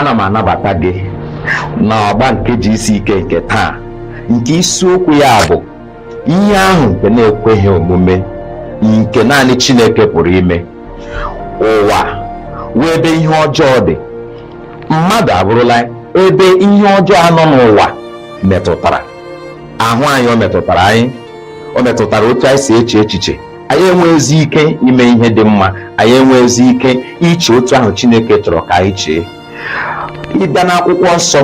ana m anabata gị na ọgba nke GCK nke taa nke isiokwu ya bụ ihe ahụ nke na-ekweghị omume nke naanị Chineke pụrụ ime ụwa wụ ebe ihe ọjọọ dị mmadụ abụrụla ebe ihe ọjọọ a nọ n'ụwa metụtara ahụ anyị o metụtara anyị o metụtara otu anyị si eche echiche anyị enweghịzi ike ime ihe dị mma anyị enweghịzi ike iche otu ahụ Chineke chọrọ ka anyị chee ị bịa n'akwụkwọ nsọ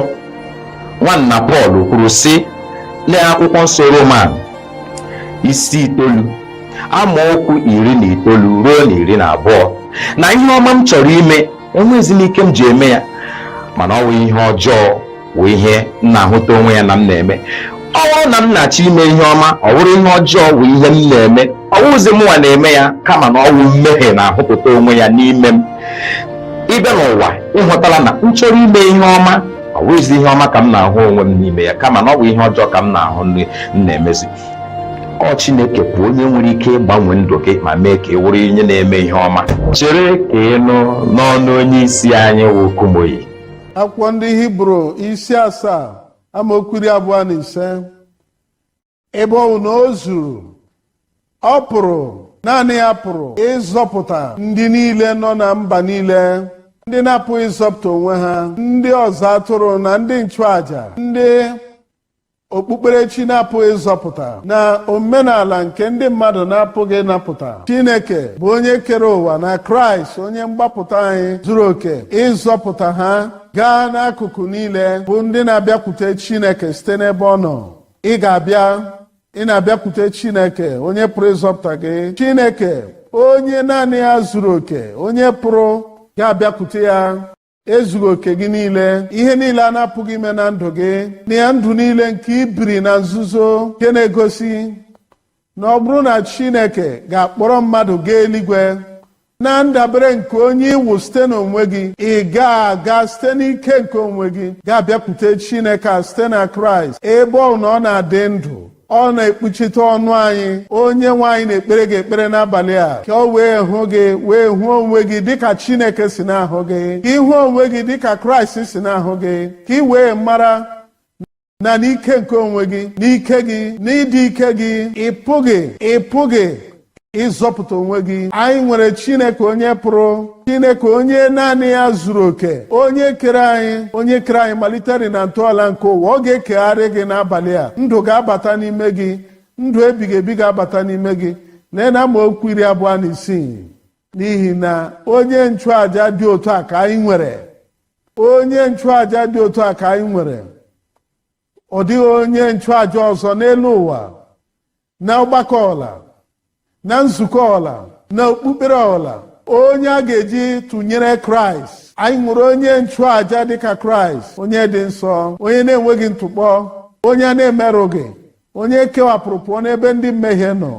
nwanna Pọl kwuru sị lee akwụkwọ nsọ Roman isi itoolu amaokwu iri na itoolu ruo na iri na abụọ na ihe ọma m chọrọ ime enweghịzi m ike m ji eme ya mana ọ wụ ihe ọjọọ wụ ihe m na-ahụta onwe ya na m na-eme ọ bụrụ na m na-achọ ime ihe ọma ọ bụrụ ihe ọjọọ wụ ihe m na-eme ọ wụghịzi mụnwa na-eme ya kama na ọ wụ mmehie na-ahụpụta onwe ya n'ime m ị bịa n'ụwa ị hụtala na m chọrọ ime ihe ọma ọ bụghịzi ihe ọma ka m na-ahụ onwe m n'ime ya kama na ọ bụ ihe ọjọọ ka m na-ahụ na m na-emezi ọ Chineke bụ onye nwere ike ịgbanwe ndụ gị ma mee ka ị wụrụ onye na-eme ihe ọma chere ka ị nụ n'ọnụ onye isi anyị wụ Kumuyi akwụkwọ ndị hibru isi asaa amaokwu iri abụọ na ise ebe ọ bụ na o zuru ọ pụrụ naanị ya pụrụ ịzọpụta ndị niile nọ na mba niile ndị na-apụghị ịzọpụta onwe ha ndị ọzụ atụrụ na ndị nchụaja ndị okpukperechi na-apụghị ịzọpụta na omenala nke ndị mmadụ na-apụghị ịnapụta Chineke bụ onye kere ụwa na Kraịst onye mgbapụta anyị zuru oke ịzọpụta ha gaa n'akụkụ niile bụ ndị na-abịakwute Chineke site n'ebe ọ nọ ị ga-abịa ị na-abịakwute Chineke onye pụrụ ịzọpụta gị Chineke onye naanị ya zuru oke onye pụrụ ga-abịakwute ya ezughị oke gị niile ihe niile a na-apụghị ime na ndụ gị na ya ndụ niile nke i biri na nzuzo nke na-egosi na ọ bụrụ na chineke ga-akpọrọ mmadụ gaa eluigwe na ndabere nke onye ị wụ site n'onwe gị ị ga-aga site n'ike nke onwe gị ga-abịakwute chineke a site na kraịst ebe ọ wụ na ọ na-adị ndụ ọ na-ekpuchite ọnụ anyị onye nwe anyị na-ekpere gị ekpere n'abalị a ka o wee hụ gị wee hụ onwe gị dịka Chineke si na-ahụ gị ka ị hụ onwe gị dịka Kraịst si na-ahụ gị ka ị wee mara na n'ike nke onwe gị n'ike gị n'ịdị ike gị ị pụghị ị pụghị ịzọpụta onwe gị anyị nwere chineke onye pụrụ chineke onye naanị ya zuru oke onye kere anyị onye kere anyị malitere na ntọala nke ụwa ọ ga-ekegharị gị n'abalị a ndụ ga-abata n'ime gị ndụ ebighị ebi ga-abata n'ime gị lee na amaokwu iri abụọ na isii n'ihi na onye nchụaja dị otu a ka anyị nwere onye nchụaja dị otu a ka anyị nwere ọ dịghị onye nchụaja ọzọ n'elu ụwa na ọgbakọ ọwụla na nzukọ ọwụla na okpukpere ọwụla onye a ga-eji tụnyere kraịst anyị nwere onye nchụaja dịka kraịst onye dị nsọ onye na-enweghị ntụkpọ onye a na-emerụghị onye kewapụrụ pụọ n'ebe ndị mmehie nọ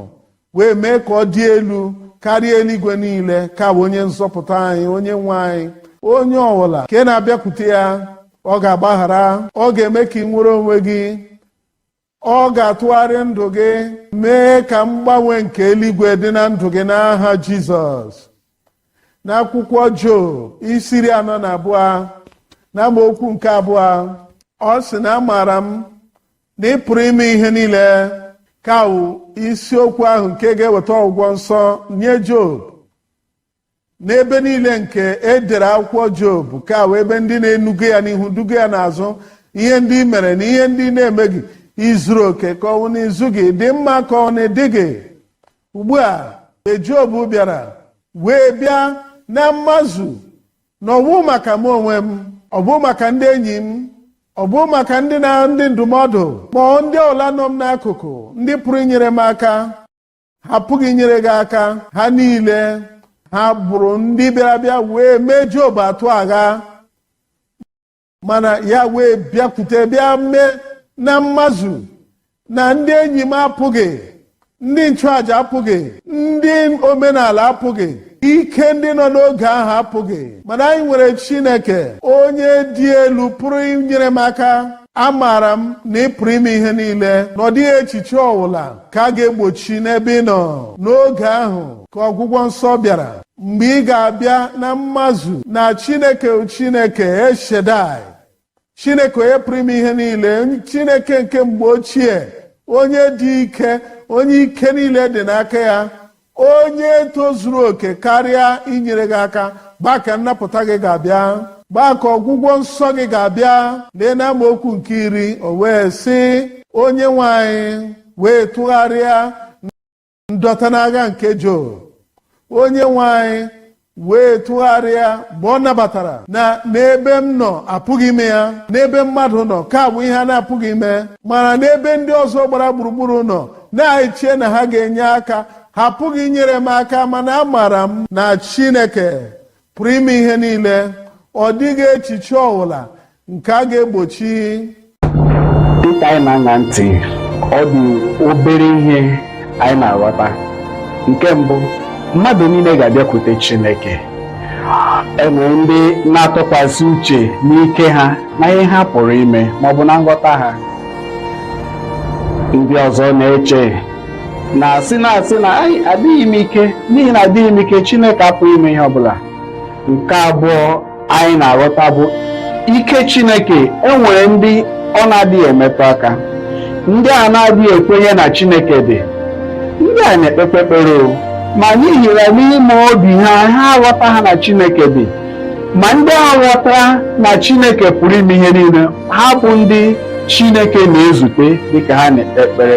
wee mee ka ọ dị elu karịa eluigwe niile ka wụ onye nzọpụta anyị onye nwe anyị onye ọwụla nke na-abịakwute ya ọ ga-agbaghara ọ ga-eme ka i nwere onwe gị Ọ ga-atụgharị ndụ gị mee ka mgbanwe nke eluigwe dị na ndụ gị n'aha Jizọs. N'akwụkwọ Job isi iri anọ na abụọ na amaokwu nke abụọ ọ sị na amaara m na ị pụrụ ime ihe niile ka wụ isiokwu ahụ nke ga-eweta ọgwụgwọ nsọ nye Job n'ebe niile nke e dere akwụkwọ job ka wụ ebe ndị na-enuga ya n'ihu duga ya n'azụ ihe ndị i mere na ihe ndị ị na-emeghị i zuru oke ka ọ wụ na i zughị ị dị mma ka ọ wụ na ị dịghị ugbu a e job bịara wee bịa na mmazu na ọ bụ maka m onwe m ọ bụ maka ndị enyi m ọ bụ maka ndị na ndị ndụmọdụ ma ndị ọwụla nọ m n'akụkụ ndị pụrụ inyere m aka ha apụghị inyere gị aka ha niile ha bụrụ ndị bịara bịa wee mee Job atụ agha mana ya wee bịakwute bịa mee na mmazu na ndị enyi m apụghị ndị nchụàja apụghị ndị omenala apụghị ike ndị nọ n'oge ahụ apụghị mana anyị nwere Chineke onye dị elu pụrụ inyere m aka amaara m na ị pụrụ ime ihe niile na ọ dịghị echiche ọwụla ka a ga-egbochi n'ebe ị nọ n'oge ahụ ka ọgwụgwọ nsọ bịara mgbe ị ga-abịa na mmazu na chineke chineke el shaddai chineke onye pụrụ ime ihe niile chineke nke mgbe ochie onye dị ike onye ike niile dị n'aka ya onye tozuru oke karịa inyere gị aka mgbe ahụ ka nnapụta gị ga-abịa mgbe ahụ ka ọgwụgwọ nsọ gị ga-abịa lee na amaokwu nke iri o wee sị onye nwe anyị wee tụgharịa ndọta n'agha nke Job onye nwe anyị wee tụgharịa mgbe ọ nabatara na n'ebe m nọ apụghị ime ya n'ebe mmadụ nọ ka ọ bụ ihe a na-apụghị ime mana n'ebe ndị ọzọ gbara gburugburu nọ na-eche na ha ga-enye aka ha apụghị inyere m aka mana amaara m na Chineke pụrụ ime ihe niile ọ dịghị echiche ọbụla nke a ga-egbochi dịka anyị na-aṅa ntị ọ dị obere ihe anyị na-aghọta nke mbụ mmadụ niile ga-abịakwute Chineke enwere ndị na-atụkwasị uche n'ike ha na ihe ha pụrụ ime maọbụ na nghọta ha ndị ọzọ na-eche na-asị na-asị na adịghị m ike n'ihi na adịghị m ike Chineke apụghị ime ihe ọbụla nke abụọ anyị na-aghọta bụ ike Chineke enwere ndị ọ na-adịghị emetụ aka ndị a na-adịghị ekwenye na Chineke dị ndị a na-ekpekpe ekpere ma n'ihi na n'ime obi ha ha aghọtaghị na Chineke dị ma ndị a ghọtara na Chineke pụrụ ime ihe niile ha bụ ndị Chineke na-ezute dịka ha na-ekpe ekpere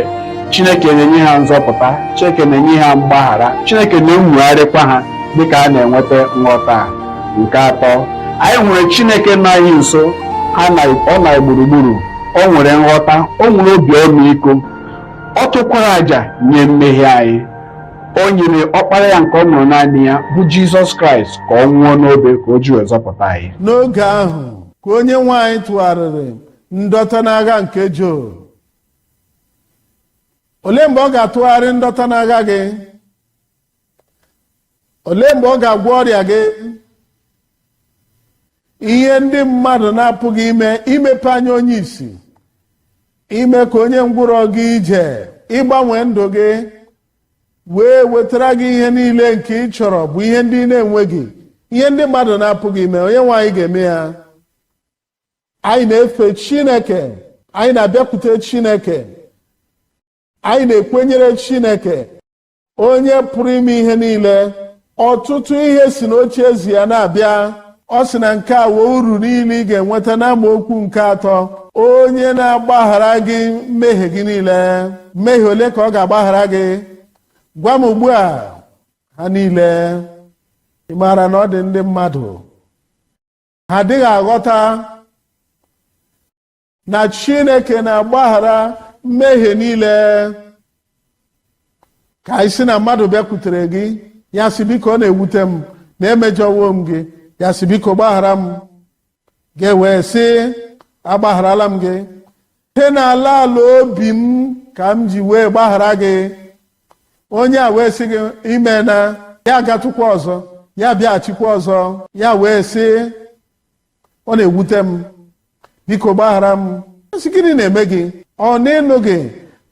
Chineke na-enye ha nzọpụta Chineke na-enye ha mgbaghara Chineke na-enwogharịkwa ha dịka ha na-enweta nghọta a nke atọ anyị nwere chineke nọ anyị nso ọ nọ anyị gburugburu o nwere nghọta o nwere obi ọmịiko ọ chụkwara àjà nye mmehie anyị o nyere ọkpara ya nke ọ mụrụ naanị ya bụ jizọs kraịst ka ọ nwụọ n'obe ka o ji wee zọpụta anyị n'oge ahụ ka onye nwe anyị tụgharịrị ndọta n'agha nke Job olee mgbe ọ ga-atụgharị ndọta n'agha gị olee mgbe ọ ga-agwọ ọrịa gị ihe ndị mmadụ na-apụghị ime imepe anya onye isi ime ka onye ngwụrọ gaa ije ịgbanwe ndụ gị wee wetara gị ihe niile nke ị chọrọ bụ ihe ndị ị na-enweghị ihe ndị mmadụ na-apụghị ime onye nwe anyị ga-eme ya anyị na-efe chineke anyị na-abịakwute chineke anyị na-ekwenyere chineke onye pụrụ ime ihe niile ọtụtụ ihe si n'oche eze ya na-abịa ọ sị na nke a wụ uru niile ị ga-enweta n'amaokwu nke atọ onye na-agbaghara gị mmehie gị niile mmehie ole ka ọ ga-agbaghara gị gwa m ugbu a ha niile ị maara na ọ dị ndị mmadụ ha adịghị aghọta na chineke na-agbaghara mmehie niile ka anyị sị na mmadụ bịakwutere gị ya sị biko ọ na-ewute m na emejọwo m gị ya sị biko gbaghara m gị wee sị agbagharala m gị site n'ala ala obi m ka m ji wee gbaghara gị onye a wee sị gị imeela ya agatụkwa ọzọ ya bịaghachikwa ọzọ ya wee sị ọ na-ewute m biko gbaghara m a sị gịnị na-eme gị ọ na ị nụghị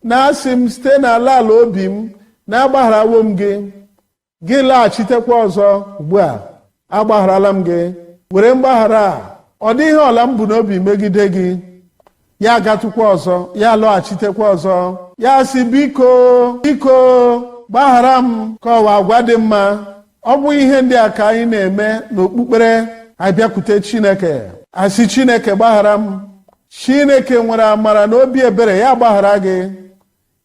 na asị m site n'ala ala obi m na agbagharawo m gị gị laghachitekwa ọzọ ugbu a agbagharala m gị were mgbaghara a ọ dịghị ihe ọbụla m bu n'obi megide gị ya agatụkwa ọzọ ya alọghachitekwa ọzọ ya sị biko biko gbaghara m ka ọ wụ agwa dị mma ọ bụ ihe ndị a ka anyị na-eme n'okpukpere a bịakwute chineke a sị chineke gbaghara m chineke nwere amara na obi ebere ya agbaghara gị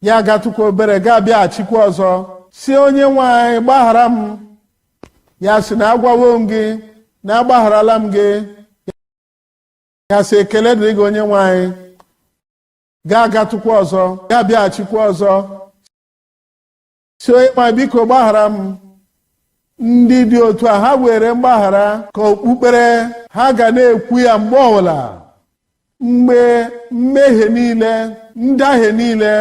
ya agatụkwa obere gị abịaghachikwa ọzọ sị onye nwe anyị gbaghara m ya sị na agwawo m gị na agbagharala m gị ya sị ekele dịrị gị onye nwe anyị gị agatụkwa ọzọ gị abịaghachikwa ọzọ sị onye nwe anyị biko gbaghara m ndị dị otu a ha weere mgbaghara ka okpukpere ha ga na-ekwu ya mgbe ọbụla mgbe mmehie niile ndahie niile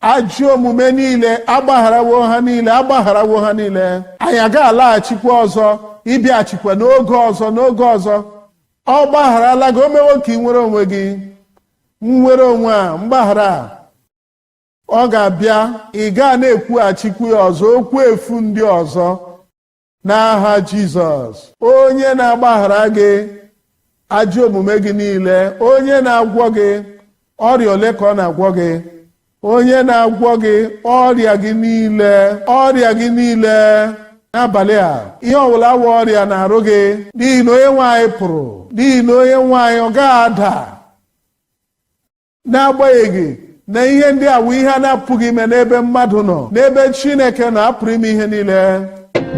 ajọ omume niile agbagharawo ha niile agbagharawo ha niile anyị agaghị alaghachikwa ọzọ ịbịaghachikwa n'oge ọzọ n'oge ọzọ ọ gbagharala gị o mewo ka i nwere onwe gị nnwere onwe a mgbaghara a ọ ga-abịa ị gaa na-ekwughachikwa ya ọzọ okwu efu ndị ọzọ n'aha Jizọs onye na-agbaghara gị ajọ omume gị niile onye na-agwọ gị ọrịa ole ka ọ na-agwọ gị onye na-agwọ gị ọrịa gị niile ọrịa gị niile n'abalị a ihe ọbụla wụ ọrịa n'arụ gị n'ihi na onye nwe anyị pụrụ n'ihi na onye nwe anyị ọ gaghị ada n'agbanyeghị na ihe ndị a wụ ihe a na-apụghị ime n'ebe mmadụ nọ n'ebe Chineke nọ a pụrụ ime ihe niile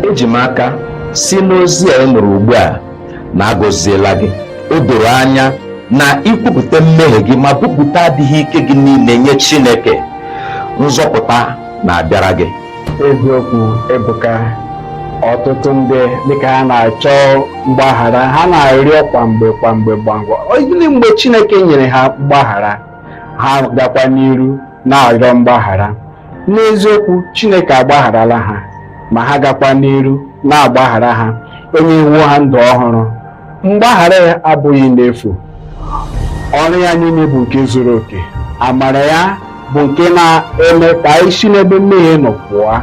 eji m aka si n'ozi a ị nụrụ ugbu a na a gọziela gị o doro anya na i kwupụta mmehie gị ma kwupụta adịghị ike gị niile nye Chineke nzọpụta na-abịara gị eziokwu ebuka ọtụtụ ndị dịka ha na-achọ mgbaghara ha na-arịọ kwa mgbe kwa mgbe gbangwa gịnị mgbe chineke nyere ha mgbaghara ha gakwa n'iru na-arịọ mgbaghara n'eziokwu chineke agbagharala ha ma ha gakwa n'iru na-agbaghara ha o nyewo ha ndụ ọhụrụ mgbaghara ya abụghị n'efu ọrụ ya niile bụ nke zuru oke amara ya bụ nke na-eme ka anyị si n'ebe mmehie nọ pụọ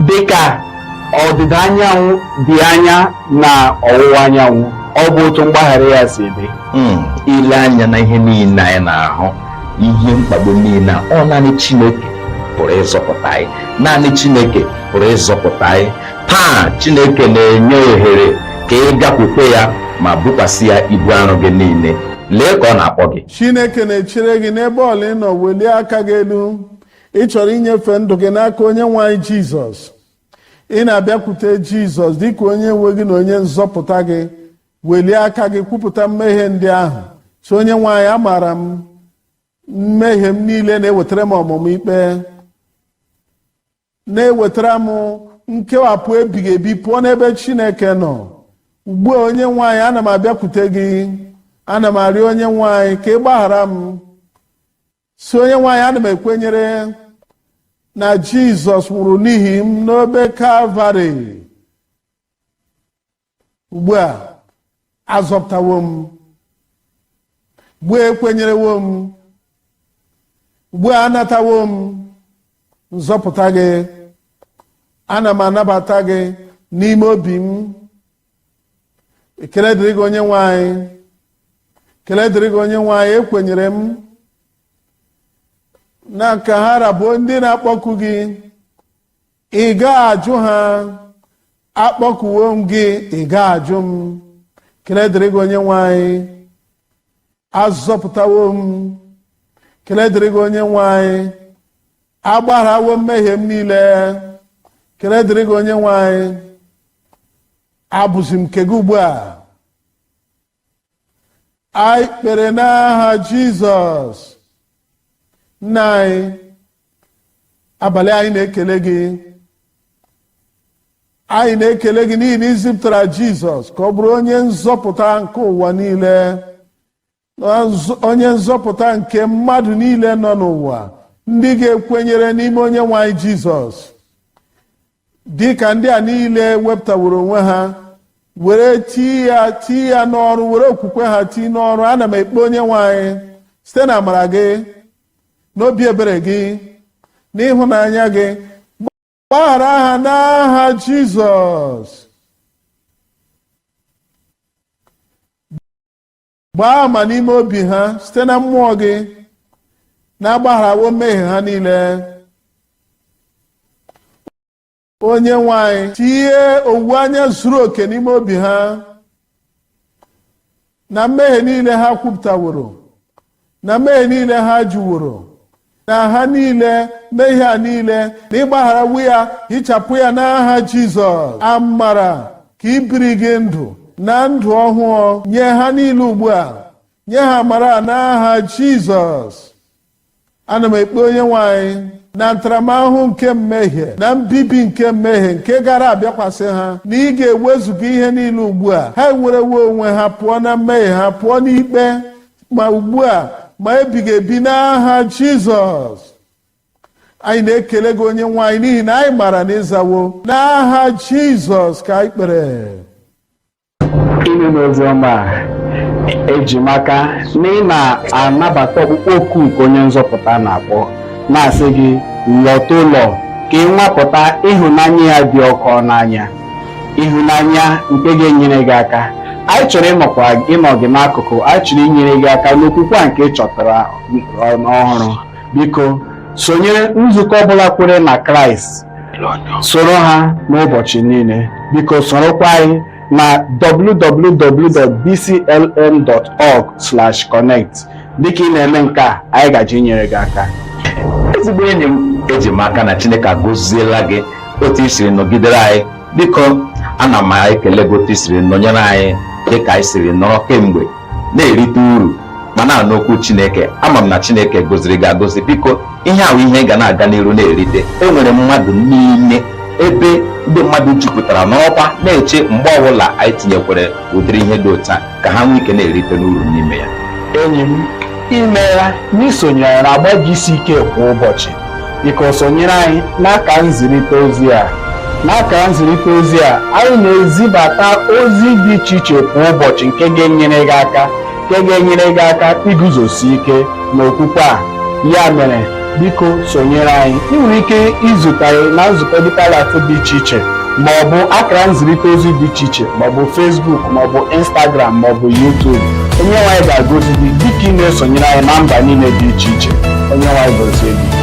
dị ka ọdịda anyanwụ dị anya na ọwụwa anyanwụ ọ bụ otu mgbaghara ya si dị Hmm, ile anya na ihe niile anyị na-ahụ ihe mkpagbu niile a, ọ naanị Chineke pụrụ ịzọpụta anyị naanị Chineke pụrụ ịzọpụta anyị taa chineke na-enye ohere ka ị bịakwute ya ma bukwasị ya ibu arụ gị niile lee ka ọ na-akpọ gị chineke na-echere gị n'ebe ọbụla ị nọ welie aka gị elu ị chọrọ inyefe ndụ gị n'aka onye nwe anyị jizọs ị na-abịakwute jizọs dịka onye nwe gị na onye nzọpụta gị welie aka gị kwupụta mmehie ndị ahụ sị onye nwe anyị amaara m mmehie m niile na-ewetara m ọmụma ikpe na-ewetara m nkewapụ ebighị ebi pụọ n'ebe chineke nọ ugbu a onye nwe anyị ana m abịakwute gị ana m arịọ onye nwe anyị ka ị gbaghara m sị onye nwe anyị ana m ekwenyere na jizọs nwụrụ n'ihi m n'obe kalvarị ugbu a azọpụtawo m ugbu a ekwenyerewo m ugbu a anatawo m nzọpụta gị ana m anabata gị n'ime obi m ekele dịrị gị onye nwe anyị ekele dịrị gị onye nwe anyị ekwenyere m na ka ha ra bụ ndị na-akpọku gị ị gaghị ajụ ha akpọkuwo m gị ị gaghị ajụ m ekele dịrị gị onye nwe anyị azọpụtawo m ekele dịrị gị onye nwe anyị agbagharawo mmehie m niile ekele dịrị gị onye nwe anyị abụzi m nke gị ugbu a anyị kpere n'aha jizọs nna anyị abalị a anyị na-ekele gị anyị na-ekele gị n'ihi na i zipụtara jizọs ka ọ bụrụ onye nzọpụta nke ụwa niile onye nzọpụta nke mmadụ niile nọ n'ụwa ndị ga-ekwenyere n'ime onye nwe anyị jizọs dị ka ndị a niile wepụtaworo onwe ha were tii ya tii ya n'ọrụ were okwukwe ha tii n'ọrụ ana m ekpe onye nwe anyị site na amara gị n'obi ebere gị n'ịhụnanya gị gbaghara ha n'aha Jizọs gbaa ama n'ime obi ha site na mmụọ gị na agbagharawo mmehie ha niile onye nwe anyị tinye owuwe anya zuru oke n'ime obi ha na mmehie niile ha kwupụtaworo na mmehie niile ha jụworo na ha niile mmehie ha niile na ị gbagharawo ya hichapụ ya n'aha Jizọs amara nke ibiri gị ndụ na ndụ ọhụụ nye ha niile ugbu a nye ha amara n'aha Jizọs ana m ekpe onye nwe anyị na ntaramahụhụ nke mmehie na mbibi nke mmehie nke gara abịakwasị ha na ị ga-ewezuga ihe niile ugbu a ha enwerewo onwe ha pụọ na mmehie ha pụọ n'ikpe ma ugbu a ma ebighị ebi n'aha jizọs anyị na-ekele gị onye nwe anyị n'ihi na anyị mara na ị zawo n'aha jizọs ka anyị kpere amen n'ozi ọma a eji m aka na ị na-anabata ọkpụkpọ oku nke onye nzọpụta na-akpọ na-asị gị lọta ụlọ ka ị nwapụta ịhụnanya ya dị ọkụ n'anya ịhụnanya nke ga-enyere gị aka anyị chọrọ ịnọkwa ịnọ gị n'akụkụ anyị chọrọ inyere gị aka n'okwukwe a nke ị chọtara ọhụrụ biko sonyere nzukọ ọbụla kwere na kraịst soro ha n'ụbọchị niile biko sorokwa anyị na www.dclm.org/connect dịka ị na-eme nke a anyị ga-eji nyere gị aka ezigbo enyi m eji m aka na chineke agọziela gị otu i siri nọgidere anyị biko ana m ekele gị otu i siri nọnyere anyị dịka anyị siri nọrọ kemgbe na-erite uru ma na-anụ okwu chineke ama m na chineke gọziri gị agọzi biko ihe a bụ ihe ị ga na-aga n'iru na-erite enwere mmadụ niile ebe ndị mmadụ jupụtara nọrọkwa na-eche mgbe ọbụla anyị tinyekwere ụdịrị ihe dị otu a ka ha nwee ike na-erite n'uru n'ime ya enyi m imeela n'isonyere na agba GCK kwa ụbọchị biko sonyere anyị n'aka nzirịta ozi a n'aka nzirịta ozi a anyị na-ezibata ozi dị iche iche kwa ụbọchị nke ga-enyere gị aka nke ga-enyere gị aka iguzosi ike n'okwukwe a ya mere biko sonyere anyị ị nwere ike izute anyị na nzukọ Deeper Life dị iche iche ma ọ bụ akara nzirịta ozi dị iche iche ma ọ bụ Facebook ma ọ bụ Instagram ma ọ bụ YouTube onye nwe anyị ga-agọzi gị dịka ị na-esonyere anyị na mba niile dị iche iche onye nwe anyị gọzie gị